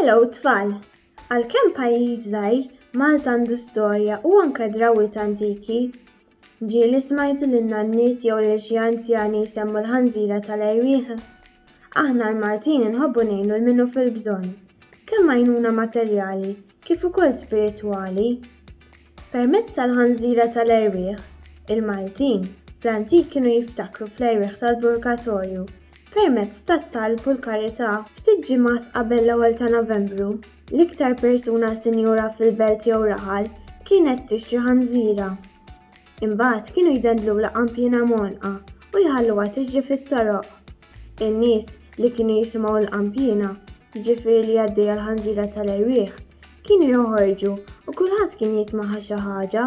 Hello tfal! Għalkemm pajjiż żgħir, Malta għandu storja u anke drawwiet antiki. Ġieli smajtu lin-nanniet jew lil xi anzjani jsemmu l-ħanżira tal-erwieħ? Aħna l-Maltin inħobbu ngħinu 'l min hu fil-bżonn, kemm għajnuna materjali kif ukoll spiritwali. Permezz tal-ħanżira tal-erwieħ, il-Maltin fl-antik kienu jiftakru fl-erwieħ tal-purgatorju permezz tat-talb u l-karità. Ftit ġimgħat qabel l-ewwel ta' Novembru, l-iktar persuna sinjura fil-belt jew raħal kienet tixtri ħanżira. Imbagħad kienu jdendlulha qanpiena mgħonqa u jħalluha tiġri fit-toroq. In-nies li kienu jisimgħu l-qanpiena jiġifieri li għaddejja l-ħanżira tal-erwieħ, kienu joħorġu u kulħadd kien jitmaħa xi ħaġa.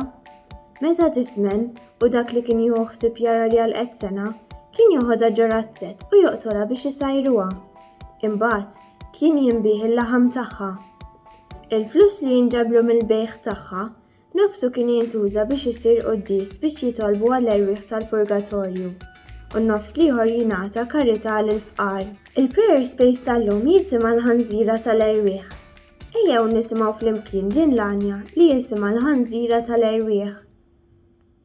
Meta tiżmen u dak li kien jieħu ħsieb jara li għalqet sena, kien joħodha ġo razzett u joqtolha biex isajruha. Imbagħad, kien jinbiegħ il-laħam tagħha. Il-flus li jinġabru mill-bejgħ tagħha Nofsu kien jintuża biex isir quddies biex jitolbu għall-erwieħ tal-purgatorju, u n-nofs l-ieħor jingħata karità lill-fqar. Il-Prayer Space tal-lum jisimha l-Ħanżira tal-Erwieħ. Ejjew nisimgħu flimkien din l-għanja li jisimha l-Ħanżira tal-Erwieħ.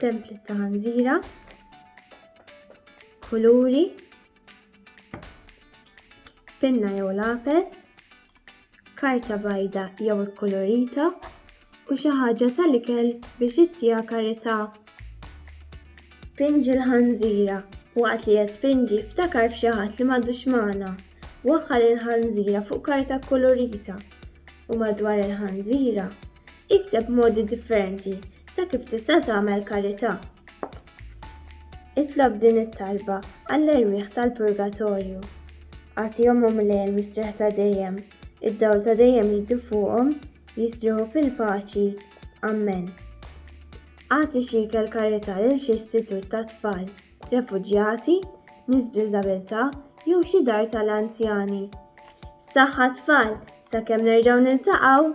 Template ta' ħanżira. Kuluri. Pinna jew lapes. Karta bajda jew ikkulurita u xi ħaġa tal-ikel biex ittija karità. Pinġi l-ħanżira waqt li qed pinġi ftakar f'xi ħadd li m'għadux magħna. Waħħal il-ħanżira fuq karta kkulurita u madwar il-ħanżira Ikteb modi differenti ta' kif tista' tagħmel karità. Itlob din it-talba għall-erwieħ tal-purgatorju. Agħtihom u mlejhel mistrieħ ta' dejjem. Id-dawl ta' dejjem jiddu fuqhom, jistrieħu fil-paċi. Ammen. Agħti xi ikel karità lil xi istitut tat-tfal. refuġjati, nies b'diżabilità jew xi dar tal-anzjani. Saħħa tfal, sakemm nerġgħu niltaqgħu!